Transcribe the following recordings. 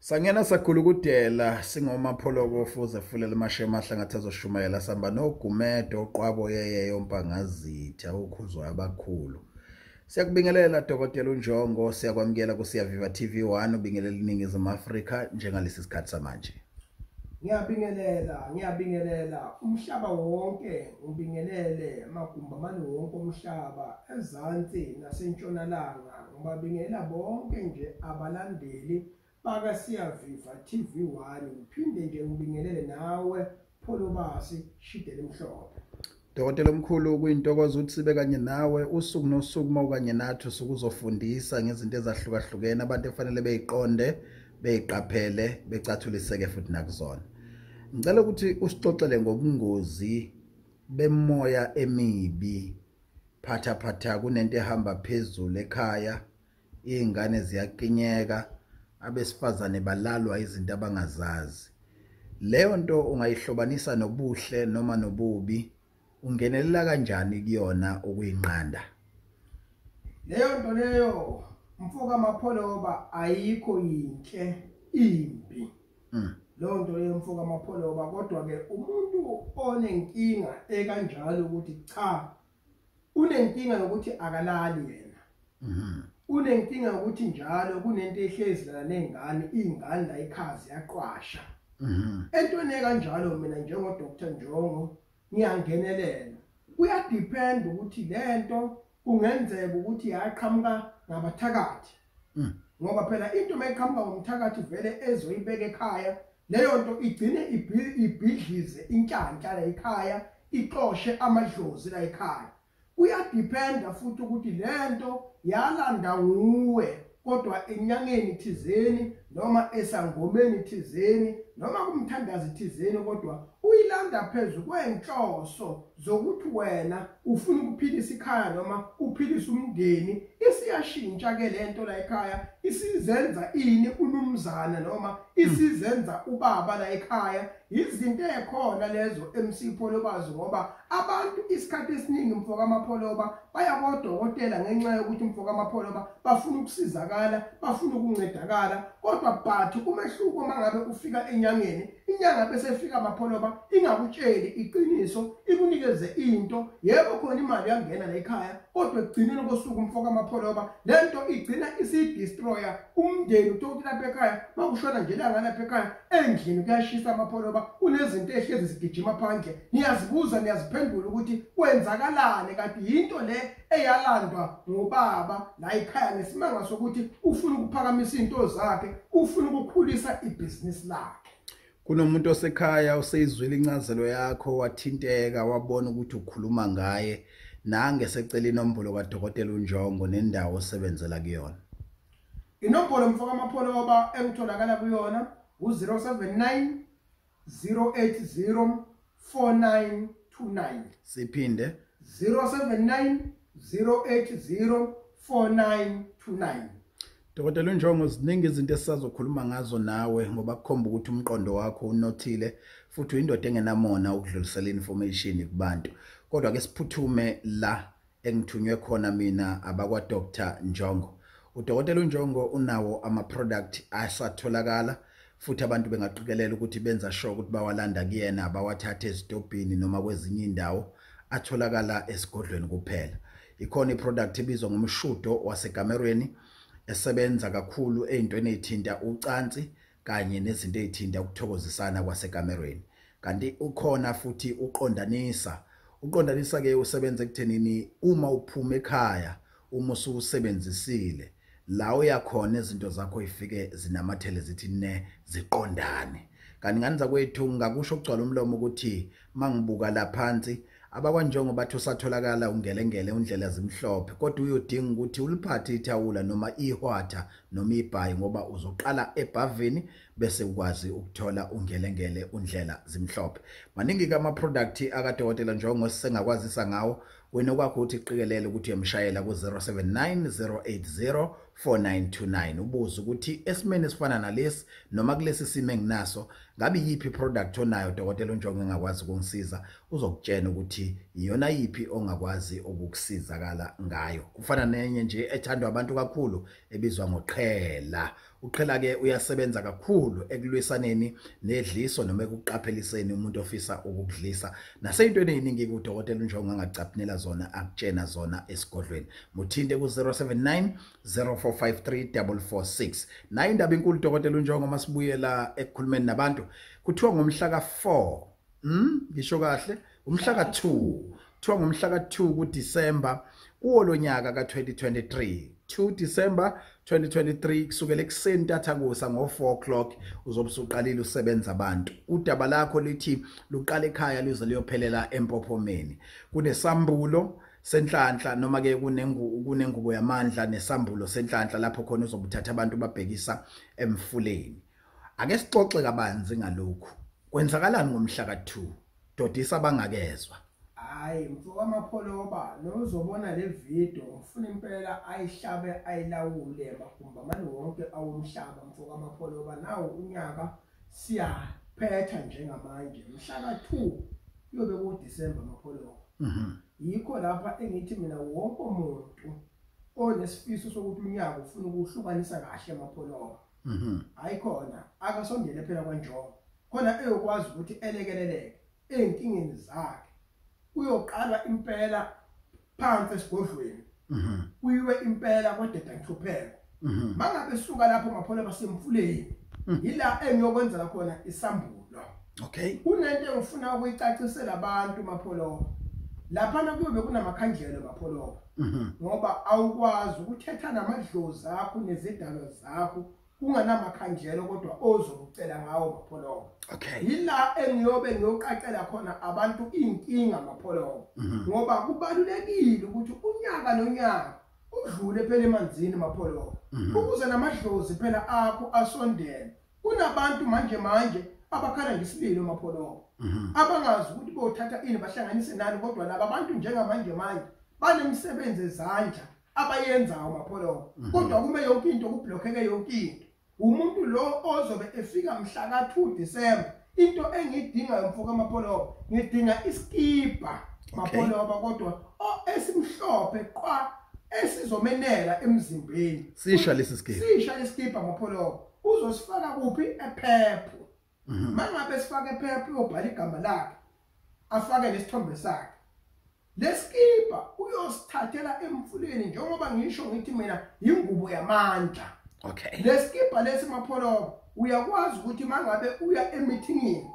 Sangena sakhulukudela singomapholoko fuze fulela amashema ahlangathi azoshumayela samba nogumedo oqwabo yeye yompangazitha ukhuzwa abakhulu. Siyakubingelela Dokotela uNjongo siyakwamukela kusiyaviva TV1 ubingelela iningizimu Afrika njengalesi sikhathi samanje. Ngiyabingelela, ngiyabingelela umhlaba wonke, ngibingelele amagumbi amane wonke omhlaba, ezansi nasentshonalanga, Ngibabingela bonke nje abalandeli bakaSiyaviva TV1 ngiphinde nje ngibingelele nawe Pholobasi Shidele Mhlophe. Dokotela omkhulu kuyintokozo ukuthi sibe kanye nawe usuku nosuku uma ukanye nathi usuke uzofundisa ngezinto ezahlukahlukene abantu efanele beyiqonde beyiqaphele becathuliseke futhi nakuzona ngicela ukuthi usixoxele ngobungozi bemoya emibi phatha phatha kunento ehamba phezulu ekhaya iy'ngane ziyaqinyeka abesifazane balalwa izinto abangazazi leyo nto ungayihlobanisa nobuhle noma nobubi ungenelela kanjani kuyona ukuyinqanda leyo nto leyo mfoka mapholoba ayikho yinhle imbi mm. leyo nto yemfo kamapholoba kodwa-ke umuntu onenkinga ekanjalo ukuthi cha unenkinga yokuthi akalali yena mm-hmm. unenkinga yokuthi njalo kunento ehlezi lana ney'ngane iy'ngane la ikhazi yaqwasha mm-hmm. entweni ekanjalo mina njengodr njongo ngiyangenelela kuyadepend ukuthi lento kungenzeka ukuthi yaqhamuka ngabathakathi hmm. ngoba phela into mayiqhamuka ngomthakathi vele ezoyibeka ekhaya leyo nto igcine ibhidlize inhlanhla la ekhaya ixoshe amadlozi la ekhaya Kuyadependa futhi ukuthi lento yalanda nguwe kodwa enyangeni thizeni noma esangomeni thizeni noma kumthandazi thizeni kodwa uyilanda phezulu kwenhloso zokuthi wena ufuna ukuphilisa ikhaya noma uphilisa umndeni isiyashintsha ke lento la ekhaya isizenza ini unumzana noma isizenza ubaba la ekhaya Izinto ekhona lezo MC Pholobazi ngoba abantu isikhathi esiningi mfoka amapholoba baya kodokotela ngenxa yokuthi mfoka amapholoba bafuna ukusizakala bafuna ukuncedakala kodwa but umehluko mangabe ufika enyangeni inyanga bese ifika amapholoba ingakutsheli iqiniso ikunikeze into yebo khona imali yangena la ekhaya kodwa ekugcineni kosuku mfoka amapholoba lento igcina isidestroyer umndeni utoki lapha ekhaya makushona nje langa lapha ekhaya endlini kuyashisa amapholoba kunezinto ehlezi zigijima phandle niyazibuza niyaziphendula ukuthi kwenzakalane kanti yinto le eyalandwa ngobaba la ekhaya nesimanga sokuthi ufuna ukuphakamisa into zakhe ufuna ukukhulisa ibhizinisi lakhe kunomuntu osekhaya oseyizwile incazelo yakho wathinteka wabona ukuthi ukhuluma ngaye nange secela inombolo kadokotela uNjongo nendawo osebenzela kuyona inombolo mfoka mapholoba engitholakala kuyona u-079 080 4929 siphinde 079 080 4929 Dokotela uNjongo ziningi izinto esisazokhuluma ngazo nawe ngoba kukhomba ukuthi umqondo wakho unothile futhi uyindoda engenamona ukudlulisela information kubantu kodwa ke siphuthume la engithunywe khona mina abakwa Dr Njongo udokotela uNjongo unawo ama product asatholakala futhi abantu bengaqikelela ukuthi benza sure ukuthi bawalanda kuyena bawathathe ezitobhini noma kwezinye indawo atholakala esigodlweni kuphela ikhona iproduct ebizwa ngomshudo wasegamerweni esebenza kakhulu ezintweni ezithinta ucansi kanye nezinto ezithinta ukuthokozisana kwasekamerweni kanti ukhona futhi uqondanisa uqondanisa ke usebenza ekuthenini uma uphuma ekhaya uma ususebenzisile la uyakhona izinto zakho ifike zinamathele zithi ne ziqondane kanti ngani zakwethu ngakusho ukugcwala umlomo ukuthi mangibuka laphansi Abakwanjongo bathi usatholakala ungelengele undlela zimhlophe kodwa uyodinga ukuthi uliphathe ithawula noma ihwatha noma ibhayi ngoba uzoqala ebhavini bese ukwazi ukuthola ungelengele undlela zimhlophe. Maningi ke ama-product akadokotela Njongo esisengakwazisa ngawo wena okwakho ukuthi qikelele ukuthi uyamshayela ku-079 080 4929 ubuze ukuthi esimeni esifana nalesi noma kulesi simo enginaso ngabe yiphi iproduct onayo dokotela unjongo engakwazi ukungisiza uzokutshena ukuthi iyona yiphi ongakwazi ukukusizakala ngayo kufana nenye nje ethandwa abantu kakhulu ebizwa ngoqhela uqhela ke uyasebenza kakhulu ekulwisaneni nedliso noma ekuqapheliseni umuntu ofisa ukukudlisa naseyintweni eyiningi kudokotela unjongo angacaphinela zona akutshena zona esigodlweni muthinte ku-079 0453 nayo indaba inkulu dokotela unjongo masibuyela ekukhulumeni nabantu kuthiwa ngomhla ka-4 mm ngisho kahle umhla ka 2 kuthiwa ngomhla ka 2 ku December kuwo lonyaka ka 2023 2 December 2023 kusukela ekuseni tathakusa ngo4 o'clock uzobusuqalile usebenza abantu udaba lakho lithi luqala ekhaya lize liyophelela empophomeni kunesambulo senhlanhla noma ke kunengu kunengubo yamandla nesambulo senhlanhla lapho khona uzobuthatha abantu babhekisa emfuleni Ake sixoxe kabanzi ngalokhu. Kwenzakalani ngomhla ka-2? Dodisa abangakezwa. Hayi mfowethu amapholoba nozobona le video ngifuna impela ayihlabe ayilawule magumba mani wonke awomhlaba mfowethu amapholoba nawo unyaka siyaphetha njengamanje mhla ka-2 kuyobe kuDecember amapholoba mhm. yikho lapha engithi mina wonke umuntu onesifiso sokuthi unyaka ufuna ukuhlukanisa kahle amapholoba mhm hayi khona akasondele phela kwanjongo khona eyokwazi ukuthi elekeleleke ezinkingeni zakhe uyoqala impela phansi esigodlweni mhm kuyiwe impela kodeda ngihlupheko mhm mangabe suka lapho maphole basemfuleni mhm. yila engiyokwenzela khona isambulo okay kunento engifuna ukuyicacisela abantu mapholo lapha kuyobe kunamakhandlela mapholo mhm. ngoba awukwazi ukuthetha namadlozi akho nezidalo zakho kunganamakhandlelo kodwa ozokucela ngawo mapholomo okay yila engiyobe ngiyoqaqela khona abantu inkinga mapholomo mhm. ngoba kubalulekile ukuthi unyaka nonyaka udlule phela emanzini mapholomo mhm. ukuze namadlozi phela akho asondele kunabantu manje manje abakhala ngesililo mapholobo mhm. abangazi ukuthi bothatha ini bahlanganise nani kodwa laba bantu njengamanje manje banemisebenzi ezandla abayenzayo mapholobo mhm. kodwa kume yonke into kublockeke yonke into umuntu lo ozobe efika mhla ka2 December into engidingayo mfoka mapholobo ngidinga iskipa mapholobo kodwa esimhlophe qwa esizomenela emzimbeni sisha lesi skipa sisha lesi skipa mapholobo uzosifaka kuphi ephepho mhm. mangabe sifaka ephepho uyobhala igama lakhe afake lesithombe sakhe lesikipa uyosithathela emfuleni njengoba ngisho ngithi mina yingubo yamandla okay lesikipa lesi mapholobo uyakwazi ukuthi mangabe uya emithingini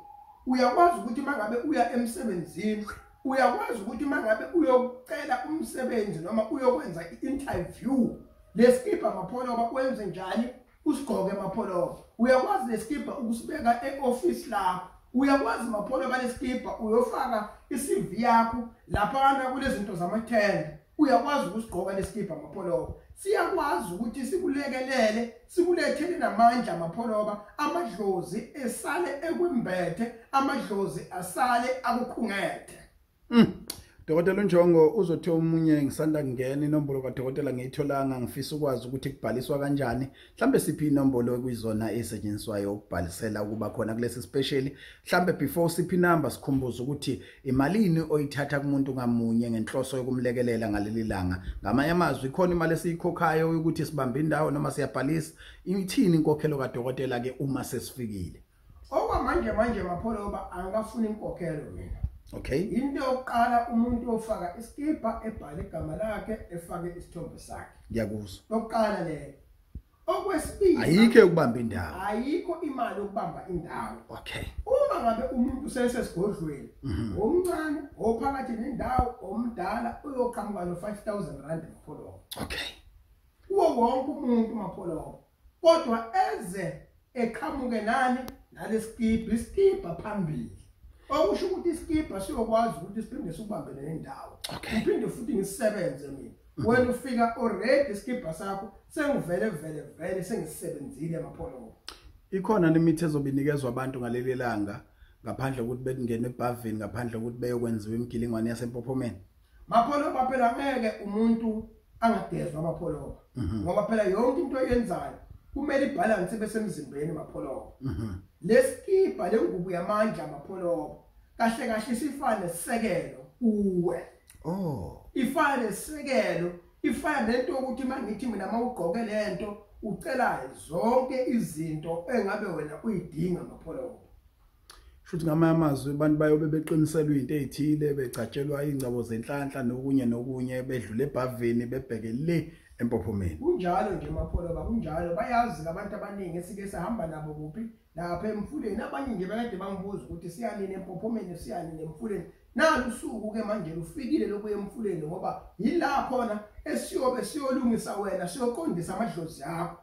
uyakwazi ukuthi mangabe uya emsebenzini uyakwazi ukuthi mangabe uyocela umsebenzi noma uyokwenza i-interview Lesikibha mapholoba wenze njani usigqoke mapholoba uyakwazi lesikibha ukusibeka eoffice lakho uyakwazi mapholoba lesikibha uyofaka iCV yakho lapha kana kulezinto zamathenda uyakwazi ukusigqoka lesikibha mapholoba siyakwazi ukuthi sikulekelele sikulethele namandla amapholoba amadlozi esale ekwembethe amadlozi asale akukhungethe Mm. Dokotela uNjongo uzothi omunye ngisanda kungena inombolo kadokotela ngiyitholanga ngifisa ukwazi ukuthi kubhaliswa kanjani mhlambe siphi inombolo ekuyizona esetshenziswayo ukubhalisela ukuba khona kulesi special mhlambe before siphi number sikhumbuza ukuthi imalini oyithatha kumuntu ngamunye ngenhloso yokumlekelela ngaleli langa ngamanye amazwi khona imali esiyikhokhayo ukuthi sibambe indawo noma siyabhalisa ithini inkokhelo kadokotela ke uma sesifikile okwamanje manje mapholoba angikafuni inkokhelo mina okay into yokuqala umuntu ofaka iskipa ebhale igama lakhe efake isithombe sakhe ngiyakuzwa lokuqala le okwesibili ayikho ukubamba indawo ayikho imali ukubamba indawo okay uma ngabe umuntu usesesigodlweni mhm. omncane ophakathi nendawo omdala uyoqhamuka no 5000 rand mapholoba okay kuwo wonke umuntu mapholoba kodwa eze eqhamuke nani nalesikibha isikibha phambili okusho ukuthi isikibha siyokwazi ukuthi siphinde sikubambe nendawo ngiphinde futhi ngisebenze mina mhm. wena ufika already isikibha sakho sengivele vele vele sengisebenzile amapholomo ikhona nemithi ezobinikezwa abantu ngaleli langa ngaphandle kokuthi bekungene ebhavini ngaphandle kokuthi beyokwenziwa imigilingwane yasempophomeni Mapholoba phela ngeke umuntu angagezwa amapholoba mhm. ngoba phela yonke into oyenzayo kumele ibalance ibe semzimbeni mapholoba mhm. lesikibha lengubo yamandla mapholoba kahle kahle isifane sekelo kuwe oh ifane sekelo ifana nento ukuthi mangithi mina mawugqoke lento ucela zonke izinto engabe wena uyidinga mapholoba futhi ngamanye amazwi abantu bayobe beqiniselwa into ezithile becatshelwa ingcabo zenhlanhla nokunye nokunye bedlule ebhavini bebheke le empophomeni kunjalo nje mapholo ba kunjalo bayazi labantu abaningi esike sahamba nabo kuphi lapha emfuleni abanye nje bakade bangibuza ukuthi siyanini empophomeni siyanini emfuleni nalusuku ke manje lufikile lokuya emfuleni ngoba yila khona esiyobe siyolungisa wena siyoqondisa amadlozi akho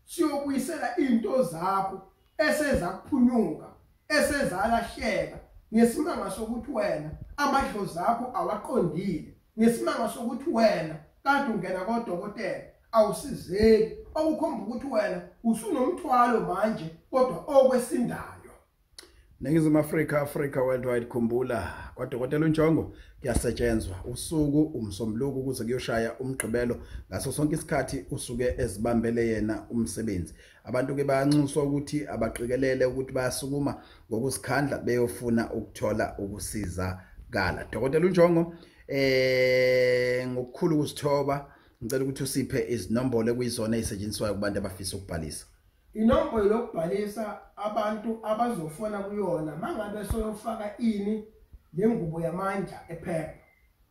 siyokuyisela into zakho esezakuphunyuka esezalahleka ngesimanga sokuthi wena amadlozi akho awaqondile ngesimanga sokuthi wena kade ungena kodokotela awusizeki okukhomba ukuthi wena usunomthwalo manje kodwa okwesindayo Ningizimu Afrika Africa worldwide khumbula kwadokotela uNjongo kuyasetshenzwa usuku umsombuluko ukuze kuyoshaya umgqibelo ngaso sonke isikhathi usuke ezibambele yena umsebenzi Abantu ke bayanxuswa ukuthi abaqikelele ukuthi bayasukuma ngokuzikhandla beyofuna ukuthola ukusiza kala. Dokotela uNjongo eh ngokukhulu kusithoba ngicela ukuthi usiphe izinombolo ekuyizona ezisetshenziswayo kubantu abafisa ukubhalisa inombolo yokubhalisa abantu abazofona kuyona mangabe soyofaka ini lengubo yamandla ephepha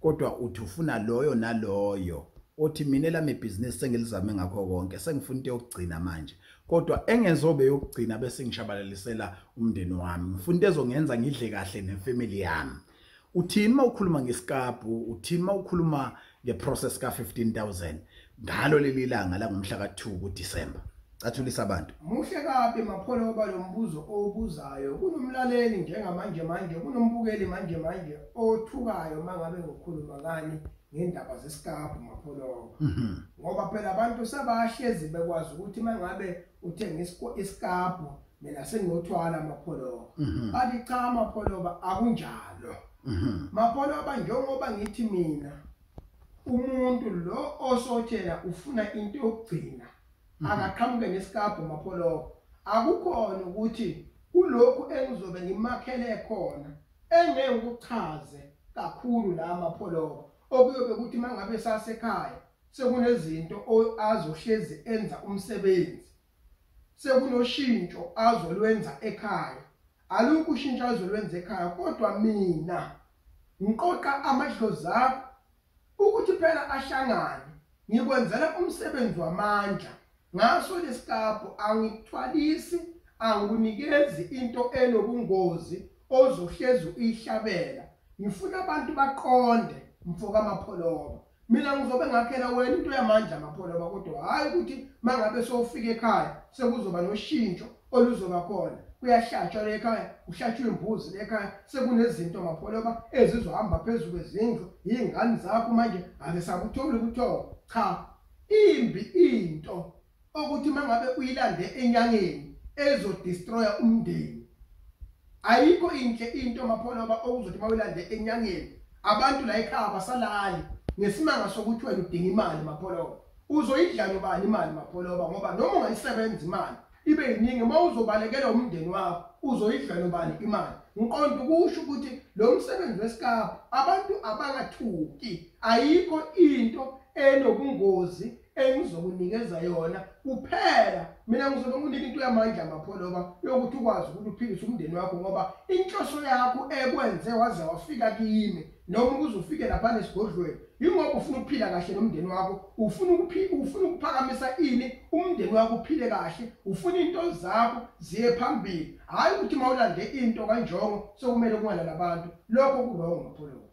kodwa uthi ufuna loyo naloyo othi mina elami ibhizinisi sengilizame ngakho konke sengifuna into yokugcina manje kodwa engezobe yokugcina bese ngishabalalisela umndeni wami ngifuna into ezongenza ngidle kahle nefamily yami uthini uma ukhuluma ngesikabhu uthini uma ukhuluma ngeprocess ka-15000 ngalo leli langa langomhla ka-2 kudisemba cathulisa abantu muhle kabi mapholo woba lo mbuzo owubuzayo kunomlaleli njengamanje manje kunombukeli manje manje othukayo uma ngabe ngokhuluma ngani ngendaba zesikabhu mapholoba mhm. ngoba phela abantu sebahlezi bekwazi ukuthi uma ngabe uthenga isikabhu mina senginothwala amapholoba mhm. bathi cha amapholoba akunjalo mhm. mapholoba njengoba ngithi mina umuntu lo osotshela ufuna into yokugcina mhm. akaqhamuke nesikabho mapholoko akukhona ukuthi kulokhu engizobe ngimakhele khona engeke ukuchaze kakhulu la mapholoko okuyobe ukuthi mangabe sasekhaya sekunezinto azohlezi enza umsebenzi sekunoshintsho azolwenza ekhaya alukho ushintsho azolwenza ekhaya kodwa mina ngiqoqa amadlozi akho ukuthi phela ahlangane ngikwenzela umsebenzi wamandla ngaso lesikabho angikuthwalisi angikunikezi into enobungozi ozohlezi uyihlabela ngifuna abantu baqonde mfoka mapholoba mina ngizobe ngakhela wena into yamandla amapholo bakodwa hhayi ukuthi uma ngabe sowufika ekhaya sekuzoba noshintsho oluzoba khona kuyahlatshwa le ekhaya kuhlatshwa imbuzi le ekhaya sekunezinto mapholoba ezizohamba phezu kwezindlu yiy'ngane zakho manje ake sakutholi ukuthoba cha imbi into okuthi mangabe uyilande enyangeni ezodestroya umndeni ayikho inhle into maphona oba okuzothi mawulande enyangeni abantu la ekhaya basalali ngesimanga sokuthi wena udinga imali mapholoba uzoyidlala ubani imali mapholoba ngoba noma ungayisebenza imali ibe yiningi uma uzobalekela umndeni wakho uzoyidlala ubani imali ngiqonda ukusho ukuthi lo msebenzi wesikapa abantu abangathuki ayikho into enobungozi engizokunikeza yona kuphela mina ngizobe nginika into yamandla mapholoba yokuthi ukwazi ukuthi uphilise umndeni wakho ngoba inhloso yakho ekwenze waze wafika kimi noma ukuze ufike lapha nesigodlweni yingoba ufuna ukuphila kahle nomndeni wakho ufuna ufuna ukuphakamisa ini umndeni wakho uphile kahle ufuna into zakho ziye phambili hhayi ukuthi uma ulande into kanjongo sokumele kungalala abantu lokho kurongo mapholoba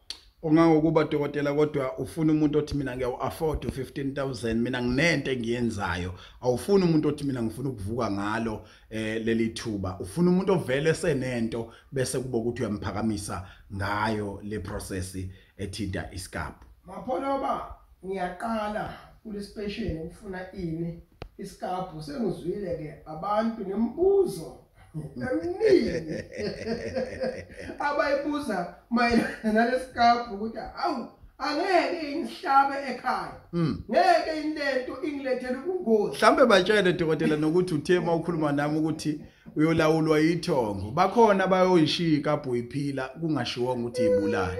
ungangokuba dokotela kodwa ufuna umuntu othi mina ngiyawu-afford u-fifteen thousand mina nginento engiyenzayo awufuni umuntu othi mina ngifuna ukuvuka ngalo um leli thuba ufuna umuntu ovele esenento bese kuba ukuthi uyamphakamisa ngayo le prosesi ethinta isikabhu mapholoba ngiyaqala kulespesheni ukufuna ini isikabhu sengizwile-ke abantu nemibuzo eminingi abayibuza mayelana nalesikabhu ukuthi awu angeke ingihlabe ekhaya hmm. ngeke inento ingilethele ubungozi mhlambe batshele dokotela nokuthi uthe uma ukhuluma nami ukuthi uyolawulwa yithongo bakhona abayoyishika bhuyiphila kungashiwonga ukuthi ibulala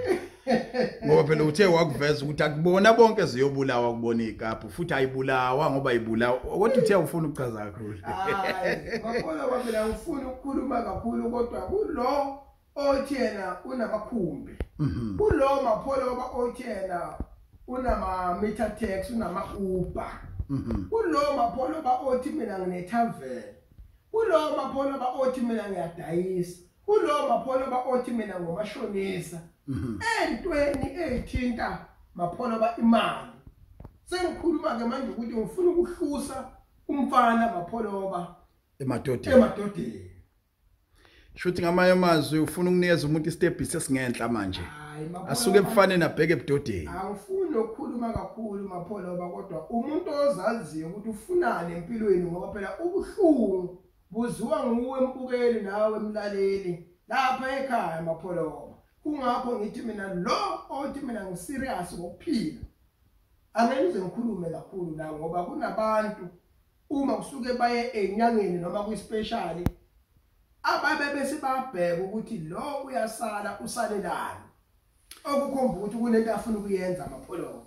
ngoba phela uthe wakuveza ukuthi akubona bonke ziyobulawa kubona ikapu futhi ayibulawa ngoba ibulawa kodwa uthe awufuni ukuchaza kakhulu ngakona kwaphela ngifuni ukukhuluma kakhulu kodwa kulo othi yena unamakhumbi mhm. kulo mapholoba othi yena unama-meter tax unama-uber mhm. kulo mapholoba othi mina nginetavele kulo mapholoba othi mina ngiyadayisa Kulowo mapholoba othi mina ngomashonisa mhm. entweni ezithinta mapholoba imali. Sengikhuluma ke manje ukuthi ngifuna ukuhlusa umfana mapholoba emadodeni. Emadodeni. Shuthi ngamanye amazwi ufuna ukunikeza umuntu istep sesingenhla manje. Asuke ebufaneni abheke ebudodeni. Awufuni ukukhuluma kakhulu mapholoba kodwa umuntu ozaziyo ukuthi ufunani empilweni ngoba phela ubuhlungu Kuziwa nguwe mbukeli nawe mlaleli lapha ekhaya mapholoma. Kungakho ngithi mina lo othi mina ngiserious ngokuphila. Angeke ngize ngikhulume kakhulu la ngoba kunabantu uma kusuke baye enyangeni noma kwispecial ababe bese babheka ukuthi lo uyasala usalelani okukhomba ukuthi kunento afuna ukuyenza amapholomo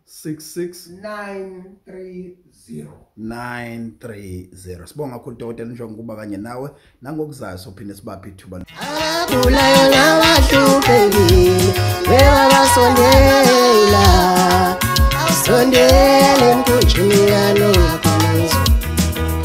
930 sibonga kakhulu dokotela njengoba kuba kanye nawe nangokuzayo sophinde sibaphe ithuba abulayo nabahluphekile bebabasondela awusondele emkhunjini yalo